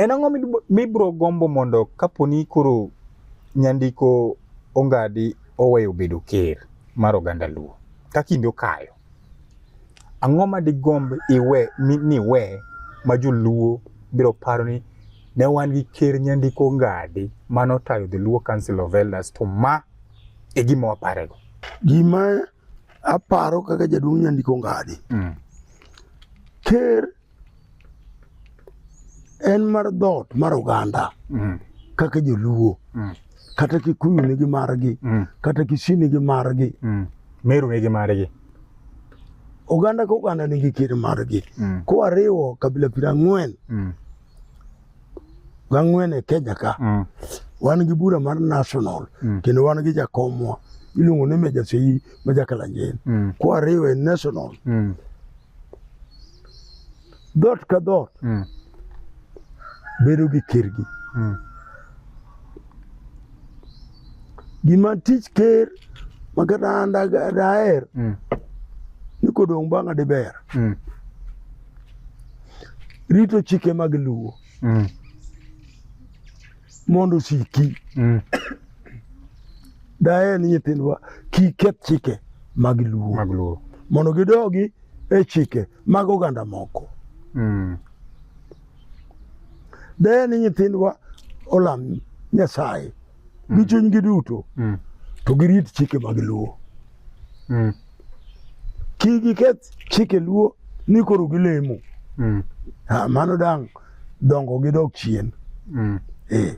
En ang'o mibro gombo mondo kaponi koro nyandiko ongadi oweyo bedo ker mar oganda Luo ka kinde okayo? Ang'o ma digomb iwe niwe ma joluo biro paro ni ne wan gi ker nyandiko ngadi mano tayo the Luo Council of Elders to ma e gima waparego. Gima aparo kaka jaduong' nyandiko ngadi mm. ker en mar dhoot mar oganda mm. kaka joluo mm. kata kikuyu nigi margi mm. kata kisii nigi margi mm. meru nigi margi oganda ka oganda nigi kir margi mm. kowariwo kabila piero ang'wen mm. gang'wen e kenya ka mm. wan gi bura mar national mm. kendo wan gi jakomwa iluongo ni meja seyi ma jakalanjeni mm. kowariwo e national mm. dhoot ka dhoot mm. bedo gi kergi mm. gima tich ker ma kata an daher mm. ni kodong' bang'a diber mm. rito chike mag luwo mm. mondo osiki mm. daher ni nyithindwa kik keth chike mag luo mag luo mondo gidogi e chike mag oganda moko mm. daher ni nyithindwa olam nyasaye mm. gi chunygi duto mm. to girit chike mag luo mm. kigiket chike luo ni koro gilemo mm. ah, mano dang' dongo gi dok chien mm. eh,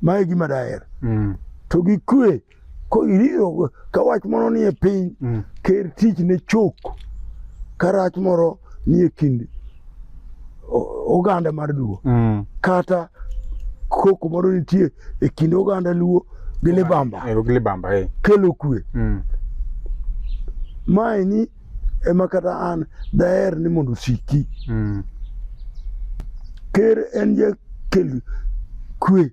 mae gima daher mm. to gi kwe ko iriro ka wach moro nie piny mm. ker tich ne chok ka rach moro nie kind oganda mar Luo mm. kata koko moro nitie e kind oganda Luo gi Libamba eh, gi Libamba eh. kelo kwe mm. maeni ema kata an daher ni mondo osiki mm. ker en jakel kwe